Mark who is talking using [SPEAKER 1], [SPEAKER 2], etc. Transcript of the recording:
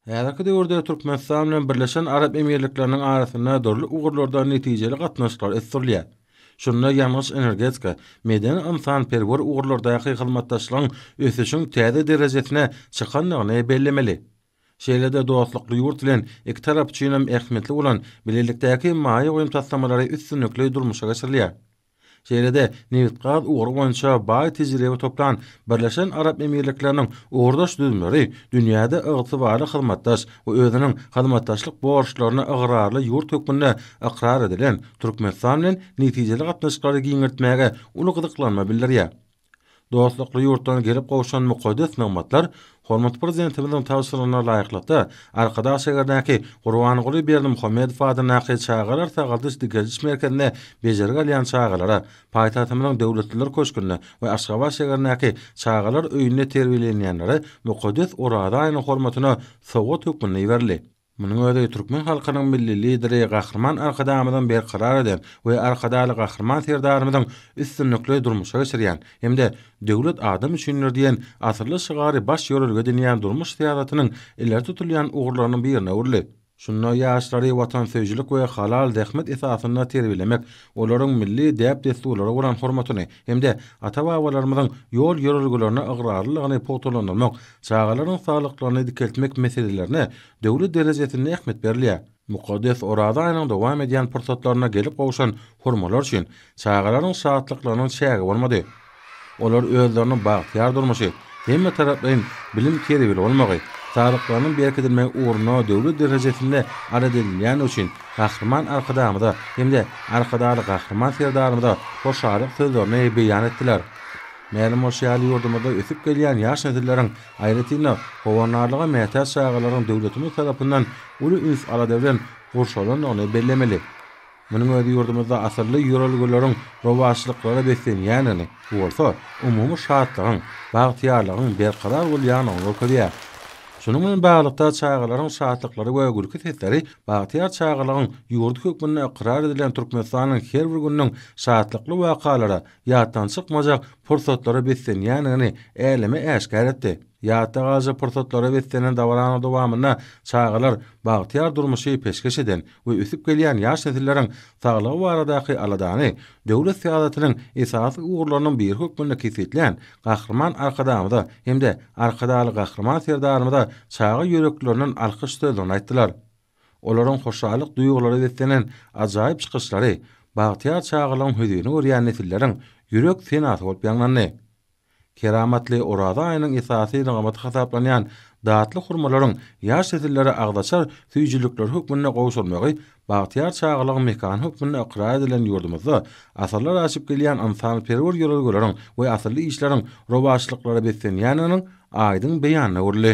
[SPEAKER 1] Häzirki döwürde Türkmenistan bilen Birleşen Arap Emirlikleriniň arasynda dürli ugurlarda netijeli gatnaşyklar ösdürilýär. Şunda ýangyç-energetika, medeni-ynsanperwer ugurlardaky hyzmatdaşlygyň ösüşiň täze derejesine çykandygyny bellemeli. Şeýle-de dostlukly ýurt bilen iki tarap üçinem ähmiýetli bolan bilelikdäki maýa goýum taslamalary üstünlikli durmuşa geçirilýär. Şeýle-de, nebit-gaz ugry boýunça baý tejribe toplan Birleşen Arap Emirlikleriniň ugurdaş düzümleri dünýäde ygtybarly hyzmatdaş we özüniň hyzmatdaşlyk borçlaryna ygrarly ýurt hökmünde ykrar edilen Türkmenistan bilen netijeli gatnaşyklary giňeltmäge uly gyzyklanma bildirýär. Dostlukly ýurtdan gelip gowşan mukaddes nygmatlar hormatly Prezidentimiziň tabşyrygyna laýyklykda, Arkadag şäherindäki Gurbanguly Berdimuhamedow adyndaky Çagalar sagaldyş-dikeldiş merkezinde bejergi alýan çagalara paýtagtymyzyň Döwletliler köşgünde we Aşgabat şäherindäki Çagalar öýünde terbiýelenýänlere mukaddes Oraza aýynyň hormatyna sowgat hökmünde iberildi. Munuň özi türkmen halkynyň Milli Lideri Gahryman Arkadagymyzyň berkarar eden we Arkadagly Gahryman Serdarymyzyň üstünlikli durmuşa geçirýän hem-de Döwlet adam üçindir! diýen asylly şygary baş ýörelge edinýän durmuş syýasatynyň ileri tutulýan ugurlarynyň birine öwrüldi. Şunda ýaşlary watansöýüjilik we halal zähmet esasynda terbiýelemek, olaryň milli däp-dessurlara bolan hormatyny, hem-de ata-babalarymyzyň ýol-ýörelgelerine ygrarlylygyny pugtalandyrmak, çagalaryň saglyklaryny dikeltmek meselelerine döwlet derejesinde ähmiýet berilýär. Mukaddes Oraza aýynyň dowam edýän pursatlarynda gelip gowşan hurmalar üçin çagalaryň şatlyklarynyň çägi bolmady. Olar özlerini bagtyýar durmuşy, hemmetaraplaýyn bilim terbiýeli bolmagy, saglyklarynyň berkidilmegi ugrunda döwlet derejesinde arz edilýändigi üçin Gahryman Arkadagymyza hem-de Arkadagly Gahryman Serdarymyza hoşallyk sözlerini beýan etdiler. Mälim bolşy ýaly, ýurdumyzda ösüp gelýän ýaş nesilleriň, aýratyn-da, howandarlyga mätäç çagalaryň döwletimiz tarapyndan uly üns-alada bilen gurşalandygyny bellemeli. Munuň özi ýurdumyzda asylly ýörelgeleriň rowaçlyklara beslenýändigini, bu bolsa umumy şatlygyň, bagtyýarlygyň berkarar bolýandygyny görkezýär. Şunuň bilen baglylykda, çagalaryň şatlyklary we gülki sesleri bagtyýar çagalygyň ýurdy hökmünde ykrar edilen Türkmenistanyň her bir gününiň şatlykly wakalara, ýatdan çykmajak pursatlara beslenýändigini äleme äşgär etdi. Ýatda galyjy pursatlara beslenen dabaranyň dowamynda çagalar bagtyýar durmuşy peşgeş eden we ösüp gelýän ýaş nesilleriň saglygy baradaky aladany döwlet syýasatynyň esasy ugurlarynyň biri hökmünde kesgitlän Gahryman Arkadagymyza hem-de Arkadagly Gahryman Serdarymyza çaga ýüreklerinden alkyş sözlerini aýtdylar. Olaryň hoşallyk duýgulara beslenen ajaýyp çykyşlary bagtyýar çagalygyň hüzini görýän nesilleriň ýürek senasy bolup ýaňlandy. Keramatly Oraza aýynyň esasy nygamaty hasaplanýan datly hurmalaryň ýaş nesillere agzaçar süýjülikleri hökmünde gowşurmagy bagtyýar çagalygyň mekany hökmünde ykrar edilen ýurdumyzda asyrlar aşyp gelýän ynsanperwer ýörelgeleriň we asylly işleriň rowaçlyklara beslenýändiginiň aýdyň beýanyna öwrüldi.